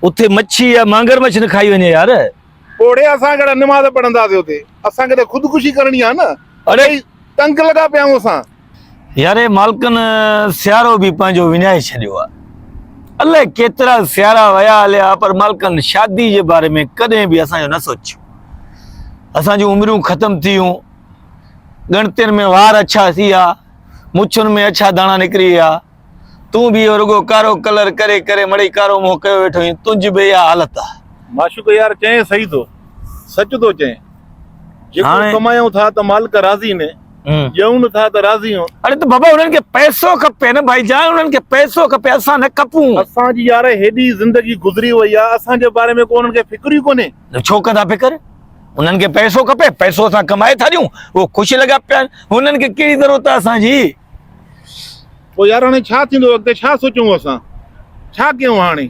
اتي مڇي يا مانگر مڇ نه کائي وڃي يار. پوڙهي اسان ڪهڙا نماز پڙهنداسين اتي اسان کي ته خودڪشي ڪرڻي آهي نه اڙي تنگ لڳا پيا آهيون اسان. ياري مالڪن سيارو به پنهنجو وڃائي ڇڏيو آ الائي ڪيترا سيارا ويا هليا پر مالڪن شادي جي باري ۾ ڪڏهن به اسان جو نه سوچيو اسان جون عمريون ختم ٿيون ڳڻتين ۾ وار اڇا ٿي ويا مڇن ۾ اڇا داڻا نڪري ويا. تون به اهو رڳو ڪارو ڪلر ڪري ڪري مڙئي ڪارو منهن ڪيو ويٺو آهين، تنهنجي به اها حالت آهي. معشوق يار چئين صحيح ٿو، سچ ٿو چئين، جيڪو ڪمايون ٿا ته مالڪ راضي ني، ڏيون نه ٿا ته راضي هون. اڙي ته بابا انهن کي پئسو کپي نه ڀائي جان، انهن کي پئسو کپي، اسان نه کپون. اسان جي يار هيڏي زندگي گذري وئي آهي، اسان جي باري ۾ ڪو انهن کي فڪر ئي ڪونهي. ڇو ڪندا فڪر، انهن کي پئسو کپي، پئسو اسان ڪمائي ٿا ڏيون، اهو خوش لڳا پيا آهن، انهن کي ڪهڙي ضرورت آهي اسان جي. پوء يار هاڻي ڇا ٿيندو اڳتي ڇا سوچون اسان ڇا ڪيون هاڻي.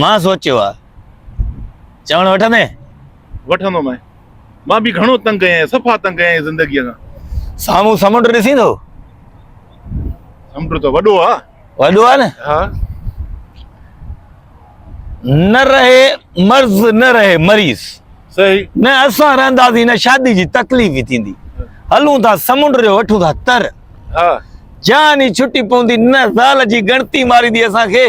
مان سوچيو آ چوڻ وٺندين. وٺندو مين مان به گهڻو تنگ ڪئي آهي صفا تنگ ڪئي آهي زندگي کان. سامهون سمنڊ ڏسين ٿو. سمنڊ ته وڏو آ. وڏو آ نه ها نه رهي مرض نه رهي مريض صحيح نه اسان رهنداسين نه شادي جي تڪليف ئي ٿيندي هلون ٿا سمنڊ جو وٺون ٿا تر ها جان ئي ڇٽي پوندي نه زال جي ڳڻتي ماريندي اسان کي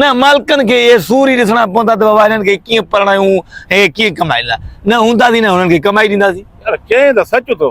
نه مالڪن کي اهي سور ئي ڏسڻا پوندا ته بابا هنن کي ڪيئن پرڻايون هي ڪيئن ڪمائيندا نه هونداسين نه هنن کي ڪمائي ڏينداسين يار چين ته سچ تو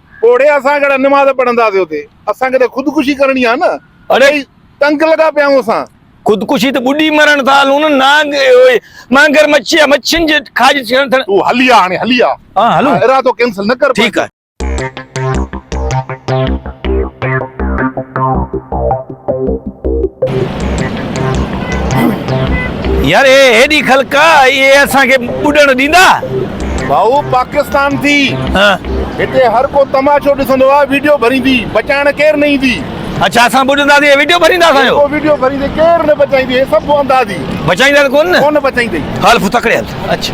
پوڙهي اسان ڪهڙا نماز پڙهنداسين اتي اسان کي ته خودڪشي ڪرڻي آهي نه اڙي تنگ لڳا پيا آهيون اسان. خودڪشي ته ٻڏي مرڻ ٿا هلون نه نانگ اهوئي مانگر مڇي آ مڇين جي کاڄ ٿيڻ ٿيڻ. تون هلي آ هاڻي هلي آ ها هلون ارادو ڪينسل نه ڪر ٺيڪ آ. يار اهي هيڏي خلق آ اهي اسان کي ٻڏڻ ڏيندا ڀائو پاڪستان ٿي هتي هر ڪو تماشو ڏسندو آ ويڊيو ڀريندي بچائڻ ڪير نه ايندي اڇا اسان ٻڏندا سين ويڊيو ڀريندا اسان جو ويڊيو ڀريندي ڪير نه بچائيندي هي سڀ اندازي بچائيندا ته ڪون نه ڪون بچائيندي هل پھو تڪڙي هل اڇا